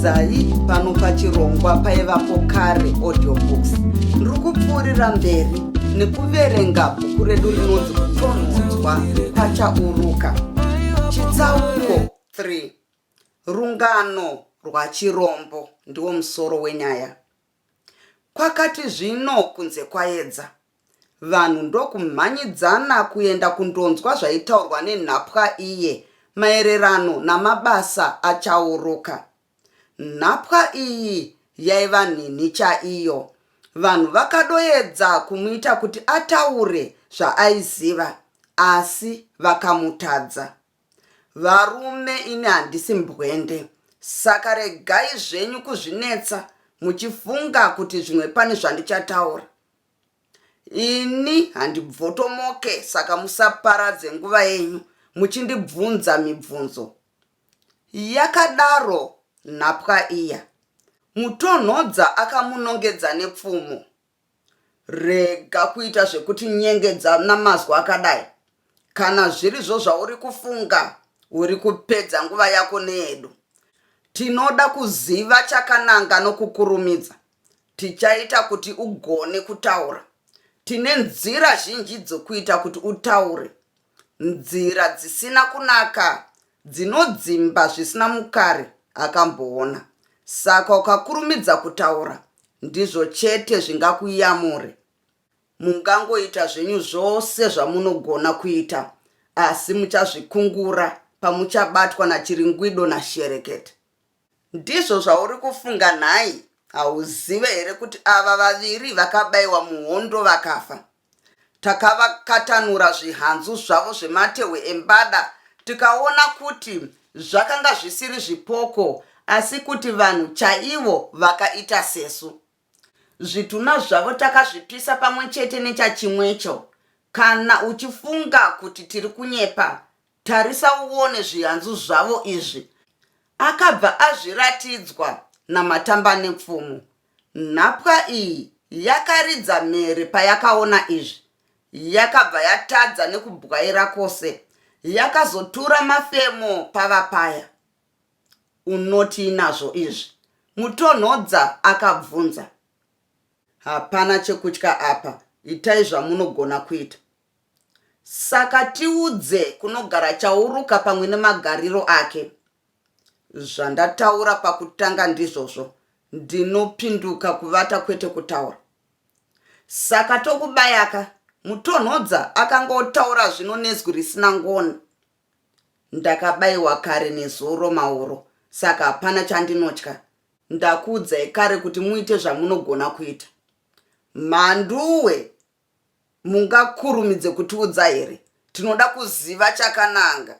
dzai pano pachirongwa paivapo kare audiobooks ndiri kupfuurira mberi nekuverenga bhuku redu rinonzi kutonhodzwa pachauruka chitsauko 3 Rungano rwachirombo ndiwo musoro wenyaya. Kwakati zvino kunze kwaedza, vanhu ndokumhanyidzana kuenda kundonzwa zvaitaurwa nenhapwa iye maererano namabasa achauruka. Nhapwa iyi yaiva nhinhi chaiyo. Vanhu vakadoedza kumuita kuti ataure zvaaiziva asi vakamutadza. Varume ini handisi mbwende saka regai zvenyu kuzvinetsa muchifunga kuti zvimwe pane zvandichataura. Ini handibvotomoke saka musaparadze nguva yenyu muchindibvunza mibvunzo. Yakadaro nhapwa iya. Mutonhodza akamunongedza nepfumo. Rega kuita zvekutinyengedza namazwi akadai. Kana zvirizvo zvauri kufunga, uri kupedza nguva yako neyedu. Tinoda kuziva chakananga nokukurumidza. Tichaita kuti ugone kutaura. Tine nzira zhinji dzokuita kuti utaure. Nzira dzisina kunaka dzinodzimba zvisina mukare akamboona saka ukakurumidza kutaura ndizvo chete zvingakuyamure mungangoita zvenyu zvose zvamunogona kuita asi muchazvikungura pamuchabatwa nachiringwido nasherekete Ndizvo zvauri kufunga nhai? Hauzive here kuti ava vaviri vakabaiwa muhondo vakafa? Takavakatanura zvihanzu zvavo zvematehwe embada tikaona kuti zvakanga zvisiri zvipoko asi kuti vanhu chaivo vakaita sesu. Zvitunha zvavo takazvipisa pamwe chete nechachimwecho. Kana uchifunga kuti tiri kunyepa, Tarisa uone zviyanzu zvavo izvi. Akabva azviratidzwa naMatambanepfumo. Nhapwa iyi yakaridza mhere payakaona izvi. Yakabva yatadza nekubwaira kose. Yakazotura mafemo pava paya. Unotii nazvo izvi? Mutonhodza akabvunza. Hapana chekutya apa, itai zvamunogona kuita. Saka tiudze kunogara Chauruka pamwe nemagariro ake. Zvandataura pakutanga ndizvozvo, ndinopinduka kuvata kwete kutaura. Saka tokubayaka, Mutonhodza akanga otaura zvino nezwi risina ngoni. Ndakabaiwa kare nezuro mauro saka hapana chandinotya. Ndakuudzai kare kuti muite zvamunogona kuita. Mhanduwe Mungakurumidze kutiudza here? Tinoda kuziva chakananga.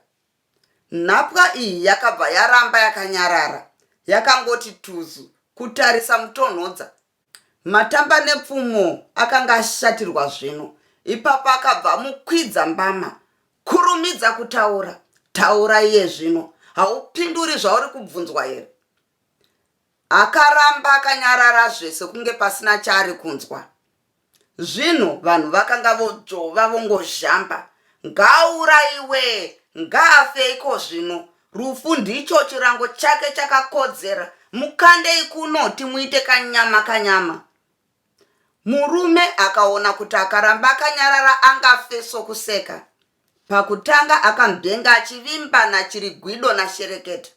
Nhapwa iyi yakabva yaramba yakanyarara, yakangoti tuzu kutarisa Mutonhodza. Matamba nepfumo akanga ashatirwa zvino. Ipapo akabva amukwidza mbama. Kurumidza kutaura, taura iye zvino. Haupinduri zvauri kubvunzwa here? Akaramba akanyarara zvese kunge pasina chaari kunzwa. Zvinhu vanhu vakanga vodzvova vongozhamba. Ngaauraiwe, ngaafe iko zvino. Rufu ndicho chirango chake chakakodzera. Mukandei kuno timuite kanyama kanyama. Murume akaona kuti akaramba akanyarara angafe sokuseka. Pakutanga akamudenga achivimba naChirigwido naShereketa.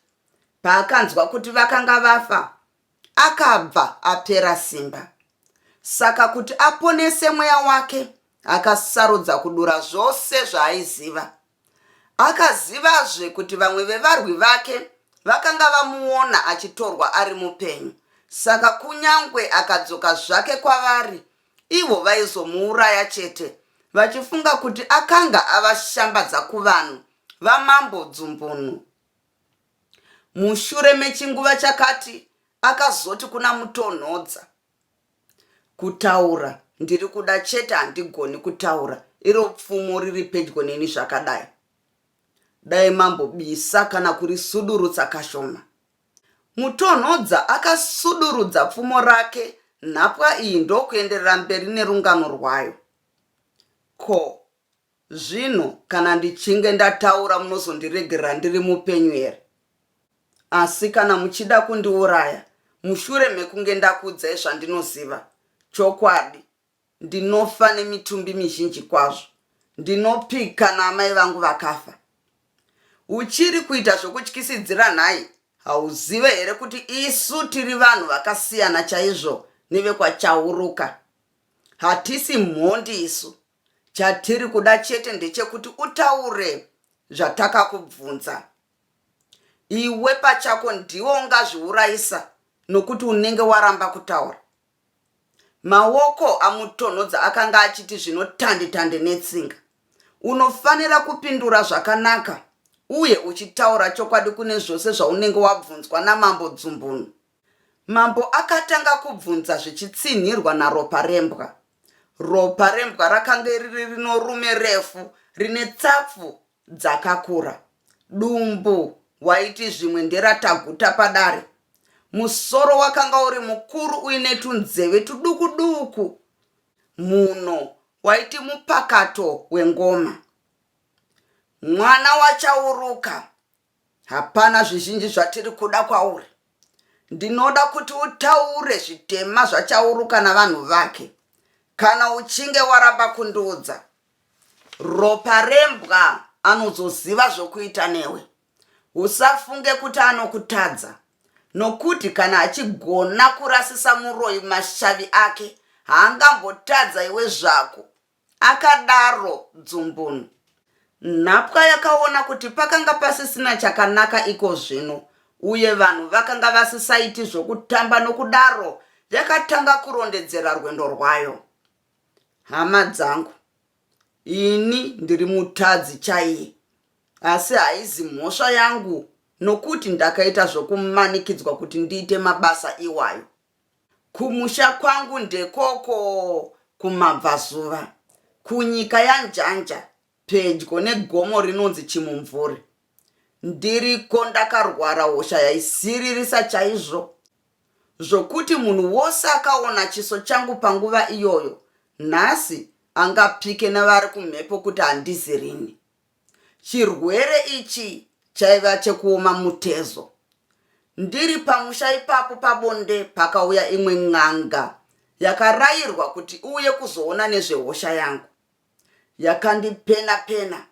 Paakanzwa kuti vakanga vafa, akabva apera simba. Saka kuti aponese mweya wake, akasarudza kudura zvose zvaaiziva. Akazivazve kuti vamwe vevarwi vake vakanga vamuona achitorwa ari mupenyu, saka kunyangwe akadzoka zvake kwavari, ivo vaizomuuraya chete, vachifunga kuti akanga avashambadza kuvanhu vaMambo Dzumbunu. Mushure mechinguva chakati akazoti kuna Mutonhodza, Kutaura ndiri kuda chete handigoni kutaura iro pfumo riri pedyo neni zvakadai. Dai mambobisa kana kurisudurutsa kashoma. Mutonhodza akasudurudza pfumo rake nhapwa iyi ndokuenderera mberi nerungano rwayo. Ko Zvino kana ndichinge ndataura munozondiregerera ndiri mupenyu here? Asi kana muchida kundiuraya mushure mekunge ndakuudzai zvandinoziva, chokwadi ndinofa nemitumbi mizhinji kwazvo. Ndinopik kana amai vangu vakafa? Uchiri kuita zvokutyisidzira nhai? Hauzive here kuti isu tiri vanhu vakasiyana chaizvo nevekwaChauruka? Hatisi mhondi isu. Chatiri kuda chete ndechekuti utaure zvatakakubvunza. Iwe pachako ndiwe ungazviurayisa nokuti unenge waramba kutaura. Maoko amutonhodza akanga achiti zvinotande-tande netsinga. Unofanira kupindura zvakanaka uye uchitaura chokwadi kune zvose zvaunenge wabvunzwa namambo Dzumbunu. Mambo akatanga kubvunza zvichitsinhirwa naRoparembwa. Roparembwa rakange riri rinorume refu rine tsapfu dzakakura. Dumbu waiti zvimwe nderataguta padare. Musoro wakanga uri mukuru uine tunzeve tuduku duku. Mhuno waiti mupakato wengoma. Mwana wachauruka Hapana zvizhinji zvatiri kuda kwauri. Ndinoda kuti utaure zvitema zvachauruka navanhu vake. Kana uchinge waramba kundiudza, ropa rembwa anozoziva zvokuita newe. Usafunge kuti anokutadza, nokuti kana achigona kurasisa muroyi mashavi ake, haangambotadza iwe zvako, Akadaro Dzumbunu. Nhapwa yakaona kuti pakanga pasisina chakanaka iko zvino uye vanhu vakanga vasisaiti zvokutamba nokudaro yakatanga kurondedzera rwendo rwayo. Hama dzangu, ini ndiri mutadzi chaiye, asi haizi mhosva yangu nokuti ndakaita zvokumanikidzwa kuti ndiite mabasa iwayo. Kumusha kwangu ndekoko kumabvazuva, kunyika yaNjanja, pedyo negomo rinonzi Chimumvuri. Ndiriko ndakarwara hosha yaisiririsa chaizvo zvokuti munhu wose akaona chiso changu panguva iyoyo nhasi angapike nevari kumhepo kuti handizi rini. Chirwere ichi chaiva chekuoma mutezo. Ndiri pamusha ipapo pabonde pakauya imwe n'anga yakarayirwa kuti iuye kuzoona nezvehosha yangu. Yakandipena pena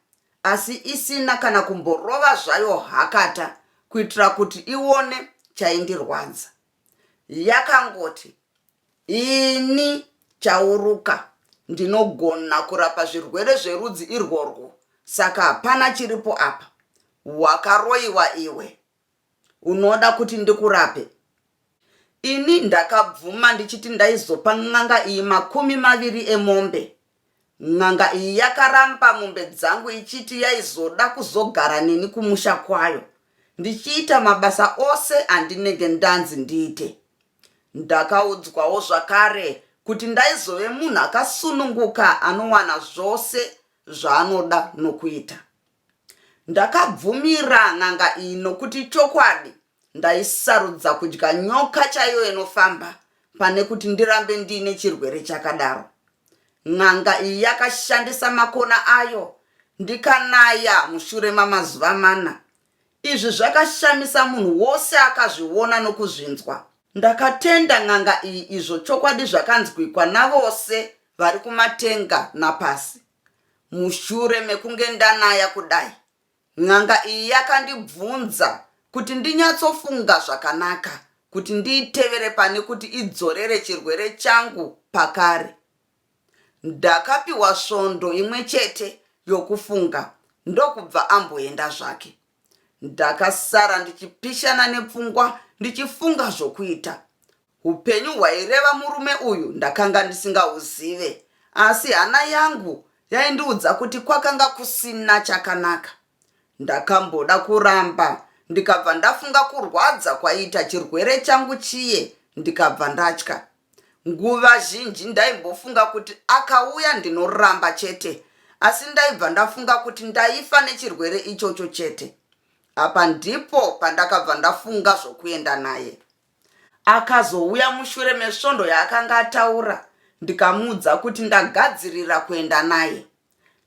asi isina kana kumborova zvayo hakata kuitira kuti ione chaindirwadza. yakangoti ini Chauruka ndinogona kurapa zvirwere zverudzi irworwo saka hapana chiripo apa. Wakaroiwa iwe. Unoda kuti ndikurape? Ini ndakabvuma ndichiti ndaizopa n'anga iyi makumi maviri emombe N'anga iyi yakaramba mombe dzangu ichiti yaizoda kuzogara neni kumusha kwayo ndichiita mabasa ose andinenge ndanzi ndiite. Ndakaudzwawo zvakare kuti ndaizove munhu akasununguka anowana zvose zvaanoda nokuita. Ndakabvumira n'anga iyi nokuti ichokwadi ndaisarudza kudya nyoka chaiyo inofamba pane kuti ndirambe ndiine chirwere chakadaro. N'anga iyi yakashandisa makona ayo ndikanaya mushure mamazuva mana. Izvi zvakashamisa munhu wose akazviona nokuzvinzwa. Ndakatenda n'anga iyi izvo chokwadi zvakanzwikwa navose vari kumatenga napasi. Mushure mekunge ndanaya kudai, n'anga iyi yakandibvunza kuti ndinyatsofunga zvakanaka kuti ndiitevere pane kuti idzorere chirwere changu pakare. Ndakapiwa svondo imwe chete yokufunga ndokubva amboenda zvake. Ndakasara ndichipishana nepfungwa ndichifunga zvokuita. Hupenyu hwaireva murume uyu ndakanga ndisingahuzive asi hana yangu yaindiudza kuti kwakanga kusina chakanaka. Ndakamboda kuramba ndikabva ndafunga kurwadza kwaiita chirwere changu chiye ndikabva ndatya. Nguva zhinji ndaimbofunga kuti akauya ndinoramba chete asi ndaibva ndafunga kuti ndaifa nechirwere ichocho chete. Apa ndipo pandakabva ndafunga zvokuenda naye. Akazouya mushure mesvondo yaakanga ataura ndikamuudza kuti ndagadzirira kuenda naye.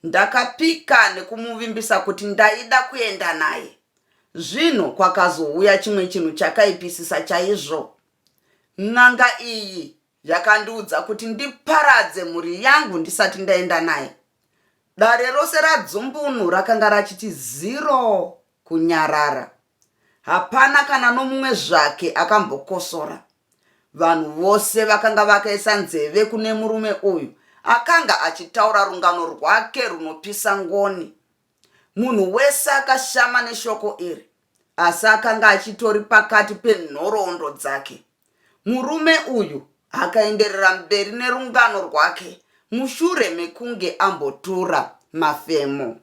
Ndakapika nekumuvimbisa kuti ndaida kuenda naye. Zvino kwakazouya chimwe chinhu chakaipisisa chaizvo. N'anga iyi Yakandiudza kuti ndiparadze mhuri yangu ndisati ndaenda naye. Dare rose radzumbunu rakanga rachiti ziro kunyarara. Hapana kana nomumwe zvake akambokosora. Vanhu vose vakanga vakaisa nzeve kune murume uyu akanga achitaura rungano rwake runopisa ngoni. Munhu wese akashama neshoko iri. asi akanga achitori pakati penhoroondo dzake. Murume uyu akaenderera mberi nerungano rwake mushure mekunge ambotura mafemo.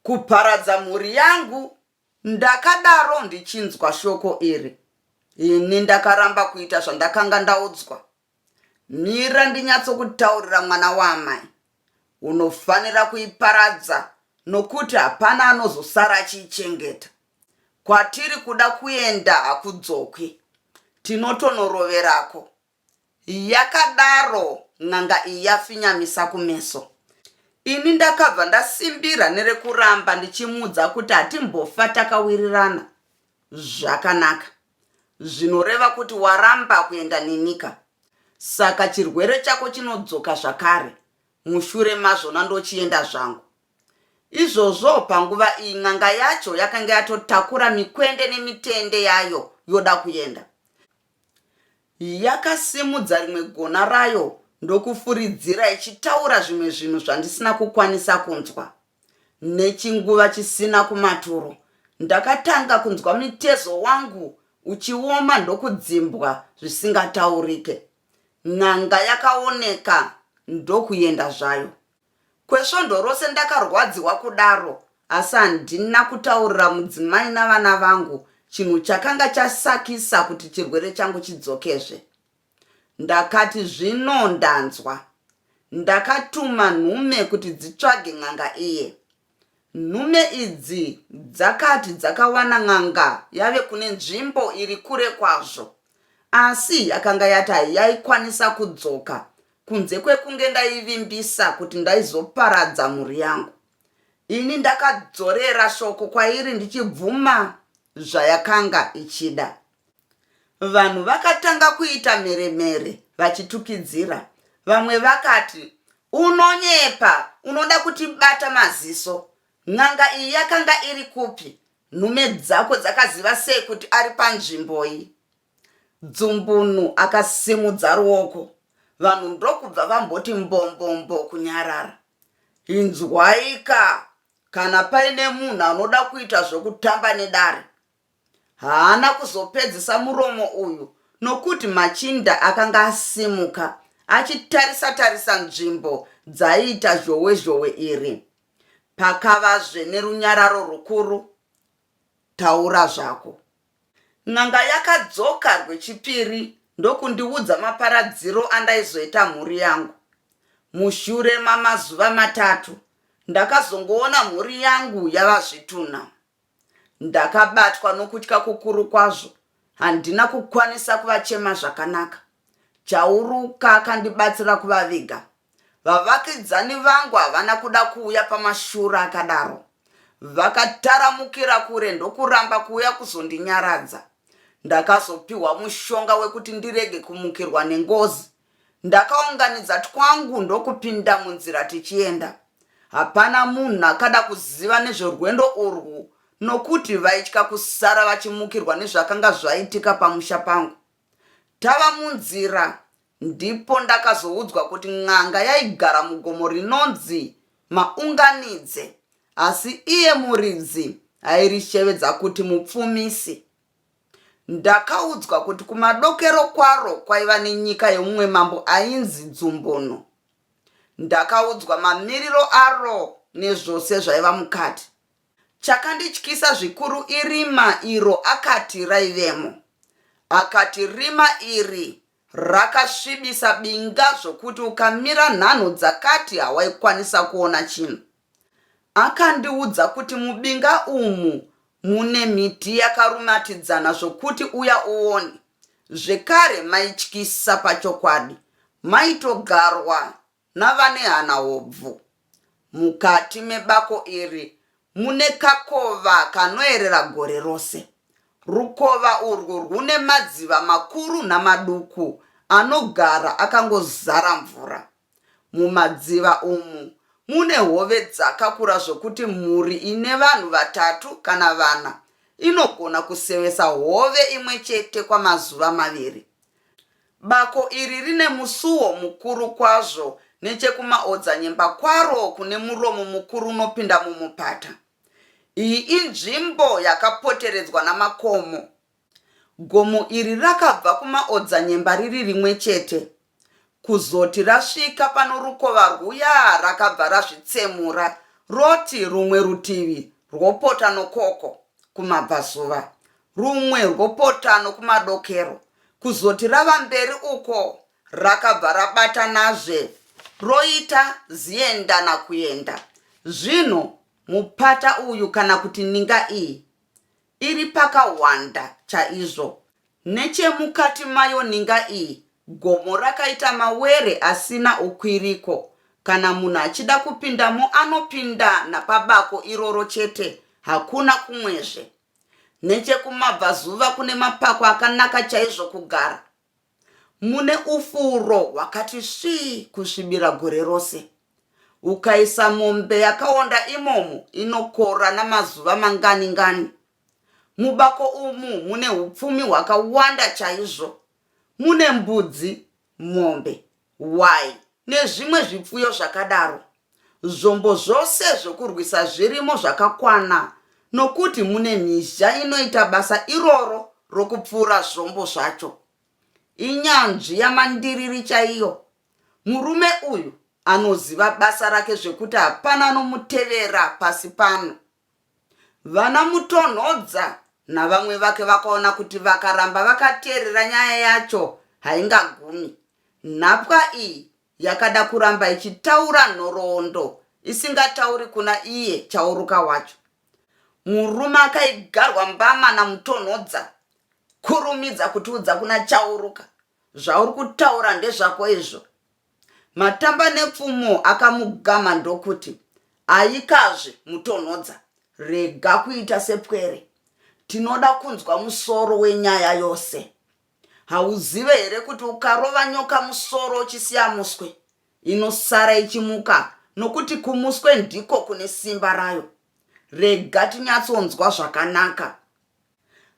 Kuparadza mhuri yangu, ndakadaro ndichinzwa shoko iri. Ini ndakaramba kuita zvandakanga ndaudzwa Mira ndinyatsokutaurira mwana waamai. Unofanira kuiparadza nokuti hapana anozosara achiichengeta. Kwatiri kuda kuenda hakudzokwi. Tinotonoroverako. Yakadaro n'anga iyi yafinyamisa kumeso. Ini ndakabva ndasimbira nerekuramba ndichimuudza kuti hatimbofa takawirirana. Zvakanaka. Zvinoreva kuti waramba kuenda neniKa. Saka chirwere chako chinodzoka zvakare mushure mazvona ndochienda zvangu. Izvozvo panguva iyi n'anga yacho yakanga yatotakura mikwende nemitende yayo yoda kuenda. Yakasimudza rimwe gona rayo ndokufuridzira ichitaura zvimwe zvinhu zvandisina kukwanisa kunzwa. Nechinguva chisina kumaturo ndakatanga kunzwa mutezo wangu uchioma ndokudzimbwa zvisingataurike. N'anga yakaoneka ndokuenda zvayo. Kwesvondo rose ndakarwadziwa kudaro asi handina kutaurira mudzimai navana vangu chinhu chakanga chasakisa kuti chirwere changu chidzokezve. Ndakati, Zvino ndanzwa. Ndakatuma nhume kuti dzitsvage n'anga iye. Nhume idzi dzakati dzakawana n'anga yave kune nzvimbo iri kure kwazvo, asi yakanga yati hayaikwanisa kudzoka kunze kwekunge ndaivimbisa kuti ndaizoparadza mhuri yangu. Ini ndakadzorera shoko kwairi ndichibvuma zvayakanga ichida. Vanhu vakatanga kuita mheremhere vachitukidzira. Vamwe vakati, Unonyepa! Unoda kutibata maziso! N'anga iyi yakanga iri kupi? Nhume dzako dzakaziva sei kuti ari panzvimboi? Dzumbunu akasimudza ruoko. Vanhu ndokubva vamboti mbombombo kunyarara. Inzwaika! Kana paine munhu anoda kuita zvokutamba nedare, Haana kuzopedzisa muromo uyu nokuti machinda akanga asimuka achitarisa tarisa nzvimbo dzaiita zhowe zhowe iri. Pakavazve nerunyararo rukuru. Taura zvako. N'anga yakadzoka rwechipiri ndokundiudza maparadziro andaizoita mhuri yangu. Mushure mamazuva matatu ndakazongoona mhuri yangu yava zvitunha. Ndakabatwa nokutya kukuru kwazvo handina kukwanisa kuvachema zvakanaka. Chauruka akandibatsira kuvaviga. Vavakidzani vangu havana kuda kuuya pamashura akadaro. Vakataramukira kure ndokuramba kuuya kuzondinyaradza. Ndakazopiwa mushonga wekuti ndirege kumukirwa nengozi Ndakaunganidza twangu ndokupinda munzira tichienda. Hapana munhu akada kuziva nezvorwendo urwu nokuti vaitya kusara vachimukirwa nezvakanga zvaitika pamusha pangu. Tava munzira ndipo ndakazoudzwa kuti n'anga yaigara mugomo rinonzi Maunganidze asi iye muridzi airishevedza kuti mupfumisi. Ndakaudzwa kuti kumadokero kwaro kwaiva nenyika yeumwe mambo ainzi Dzumbono. Ndakaudzwa mamiriro aro nezvose zvaiva mukati. Chakandityisa zvikuru irima iro akati raivemo. Akati rima iri Rakasvibisa binga zvokuti ukamira nhanho dzakati hawaikwanisa kuona chinhu. Akandiudza kuti mubinga umu mune miti yakarumatidzana zvokuti uya uone. Zvekare maityisa pachokwadi. Maitogarwa navane hana hobvu. Mukati mebako iri mune kakova kanoerera gore rose. Rukova urwu rwune madziva makuru namaduku anogara akangozara mvura. Mumadziva umu mune hove dzakakura zvokuti mhuri ine vanhu vatatu kana vana inogona kusevesa hove imwe chete kwamazuva maviri. Bako iri rine musuwo mukuru kwazvo nechekumaodzanyemba kwaro kune muromo mukuru unopinda mumupata. Iyi inzvimbo yakapoteredzwa namakomo. Gomo iri rakabva kumaodzanyemba riri rimwe chete kuzoti rasvika pano rukova rwuya rakabva razvitsemura roti rumwe rutivi rwopota nokoko kumabvazuva Rumwe rwopotano kumadokero kuzoti rava mberi uko rakabva rabatanazve roita ziendana kuenda. Zvino mupata uyu kana kuti ninga iyi iri pakahwanda chaizvo. Nechemukati mayo ninga iyi gomo rakaita mawere asina ukwiriko. Kana munhu achida kupindamo anopinda napabako iroro chete, hakuna kumwezve. Nechekumabvazuva kune mapako akanaka chaizvo kugara. Mune ufuro hwakati svii kusvibira gore rose. Ukaisa mombe yakaonda imomo inokora namazuva mangani ngani. Mubako umu mune upfumi hwakawanda chaizvo. Mune mbudzi, mombe, hwai nezvimwe zvipfuyo zvakadaro. Zvombo zvose zvokurwisa zvirimo zvakakwana nokuti mune mhizha inoita basa iroro rokupfuura zvombo zvacho. Inyanzvi yamandiriri chaiyo. Murume uyu anoziva basa rake zvekuti hapana anomutevera pasi pano. Vana Mutonhodza navamwe vake vakaona kuti vakaramba vakateerera nyaya yacho haingagumi. Nhapwa iyi yakada kuramba ichitaura nhoroondo isingatauri kuna iye Chauruka wacho. Murume akaigarwa mbama naMutonhodza, Kurumidza kutiudza kuna Chauruka. Zvauri kutaura ndezvako izvo, Matambanepfumo akamugama ndokuti, Ayikazve, Mutonhodza, rega kuita sepwere. Tinoda kunzwa musoro wenyaya yose. Hauzive here kuti ukarova nyoka musoro uchisiya muswe, inosara ichimuka nokuti kumuswe ndiko kune simba rayo? Rega tinyatsonzwa zvakanaka.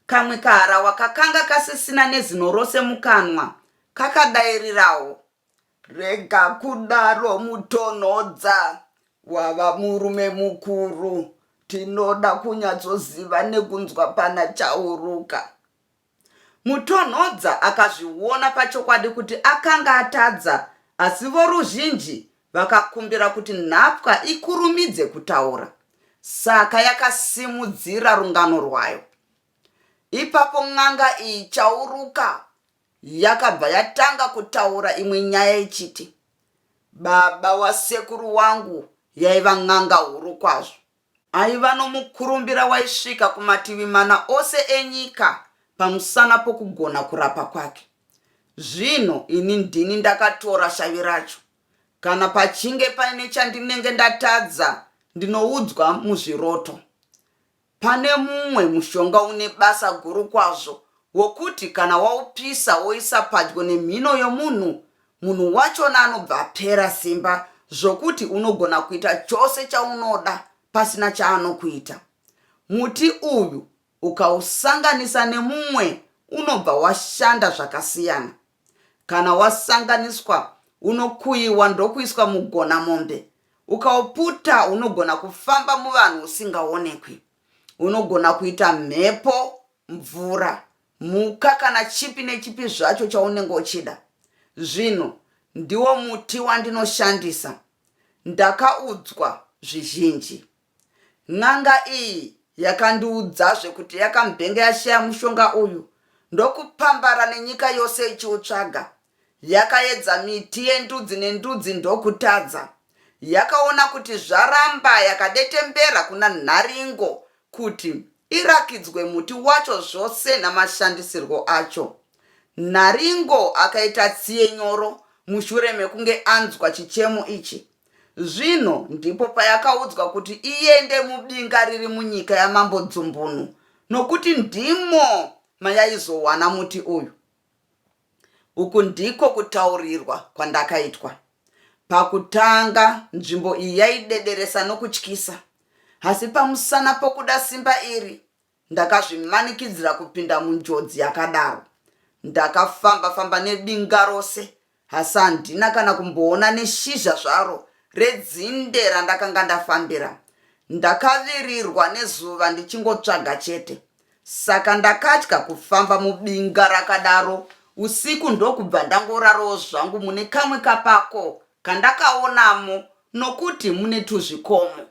Kamwe kaharahwa kakanga kasisina nezino rose mukanwa kakadairirawo. Rega kudaro Mutonhodza, wava murume mukuru. Tinoda kunyatsoziva nekunzwa pana Chauruka. Mutonhodza akazviona pachokwadi kuti akanga atadza asi voruzhinji Vakakumbira kuti nhapwa ikurumidze kutaura, saka yakasimudzira rungano rwayo. Ipapo n'anga iyi Chauruka yakabva yatanga kutaura imwe nyaya ichiti, Baba wasekuru wangu yaiva n'anga huru kwazvo. Aiva nomukurumbira waisvika kumativi mana ose enyika pamusana pokugona kurapa kwake. Zvino ini ndini ndakatora shavi racho. Kana pachinge paine chandinenge ndatadza, ndinoudzwa muzviroto. Pane mumwe mushonga une basa guru kwazvo wokuti kana waupisa woisa padyo nemhino yomunhu munhu wachona anobva apera simba zvokuti unogona kuita chose chaunoda pasina chaanokuita muti uyu ukausanganisa nemumwe unobva washanda zvakasiyana kana wasanganiswa unokuyiwa ndokuiswa mugona mombe ukauputa unogona kufamba muvanhu usingaonekwi unogona kuita mhepo mvura Mhuka kana chipi nechipi zvacho chaunenge uchida. Zvinhu ndiwo muti wandinoshandisa. Ndakaudzwa zvizhinji. N'anga iyi yakandiudzazve kuti yakamubhenga yashaya mushonga uyu ndokupambara nenyika yose ichiutsvaga. Yakaedza miti yendudzi nendudzi ndokutadza. Yakaona kuti zvaramba yakadetembera kuna Nharingo kuti irakidzwe muti wacho zvose namashandisirwo acho. Nharingo akaita tsiye nyoro mushure mekunge anzwa chichemo ichi. Zvino ndipo payakaudzwa kuti iende mubinga riri munyika yamambo Dzumbunu nokuti ndimo mayaizowana muti uyu. Uku ndiko kutaurirwa kwandakaitwa. Pakutanga, nzvimbo iyi yaidederesa nokutyisa, asi pamusana pokuda simba iri, ndakazvimanikidzira kupinda munjodzi yakadaro. Ndakafamba-famba nedinga rose, asi handina kana kumboona neshizha zvaro redzinde randakanga ndafambira. Ndakavirirwa nezuva ndichingotsvaga chete. Saka ndakatya kufamba mubinga rakadaro usiku ndokubva ndangorarawo zvangu mune kamwe kapako kandakaonamo nokuti mune tuzvikomo.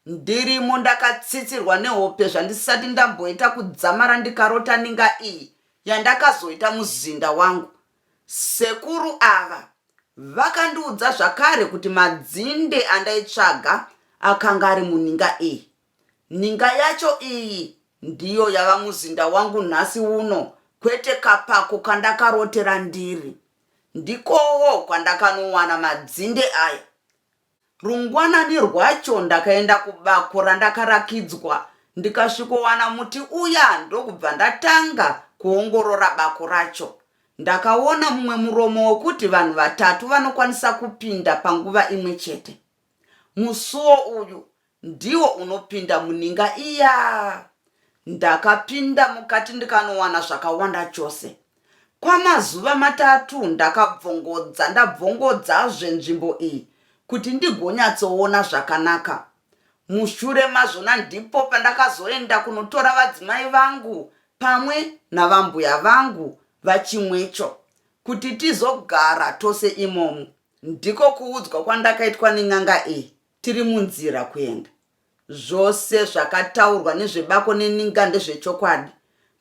Ndirimo ndakatsitsirwa nehope zvandisati ndamboita kudzamara ndikarota ninga iyi yandakazoita muzinda wangu. Sekuru ava vakandiudza zvakare kuti madzinde andaitsvaga akanga ari muninga iyi. Ninga yacho iyi ndiyo yava muzinda wangu nhasi uno kwete kapako kandakarotera ndiri. Ndikowo kwandakanowana madzinde aya. Rungwanani rwacho ndakaenda kubako randakarakidzwa ndikasvikowana muti uya ndokubva ndatanga kuongorora bako racho. Ndakaona mumwe muromo wekuti vanhu vatatu vanokwanisa kupinda panguva imwe chete. Musuwo uyu Ndiwo unopinda muninga iyaa. Ndakapinda mukati ndikanowana zvakawanda chose. Kwamazuva matatu ndakabvongodza ndabvongodzazve nzvimbo iyi kuti ndigonyatsoona zvakanaka. Mushure mazvona ndipo pandakazoenda kunotora vadzimai vangu pamwe navambuya vangu vaChimwecho kuti tizogara tose imomu. Ndiko kuudzwa kwandakaitwa nen'anga iyi Tiri munzira kuenda. Zvose zvakataurwa nezvebako neninga ndezvechokwadi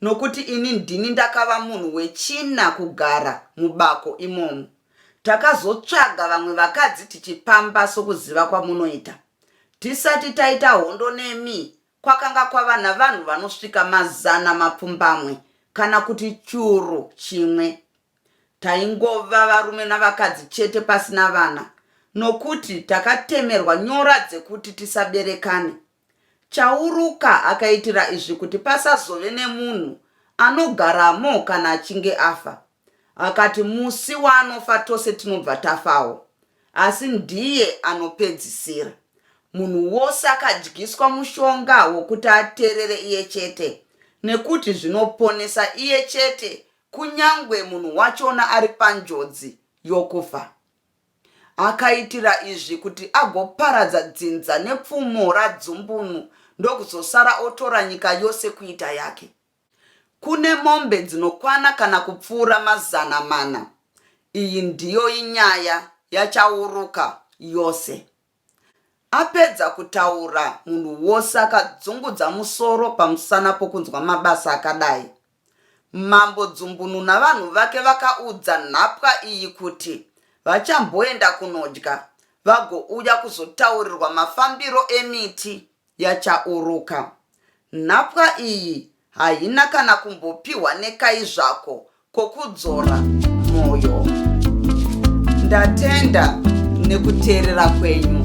nokuti ini ndini ndakava munhu wechina kugara mubako imomo. Takazotsvaga vamwe vakadzi tichipamba sokuziva kwamunoita. Tisati taita hondo nemi, kwakanga kwava navanhu vanosvika mazana mapfumbamwe kana kuti churu chimwe Taingova varume navakadzi chete pasina vana nokuti takatemerwa nyora dzekuti tisaberekane. Chauruka akaitira izvi kuti pasazove nemunhu anogaramo kana achinge afa. Akati musi waanofa tose tinobva tafawo, asi ndiye anopedzisira. Munhu wose akadyiswa mushonga wokuti ateerere iye chete nekuti zvinoponesa iye chete Kunyangwe munhu wachona ari panjodzi yokufa. Akaitira izvi kuti agoparadza dzinza nepfumo radzumbunu ndokuzosara otora nyika yose kuita yake. Kune mombe dzinokwana kana kupfuura mazana mana. Iyi ndiyo inyaya yachauruka yose. Apedza kutaura munhu wose akadzungudza musoro pamusana pokunzwa mabasa akadai. Mambo Dzumbunu navanhu vake vakaudza nhapwa iyi kuti vachamboenda kunodya vagouya kuzotaurirwa mafambiro emiti. Yachauruka. Nhapwa iyi haina kana kumbopihwa nekai zvako kokudzora moyo. Ndatenda nekuteerera kwenyu.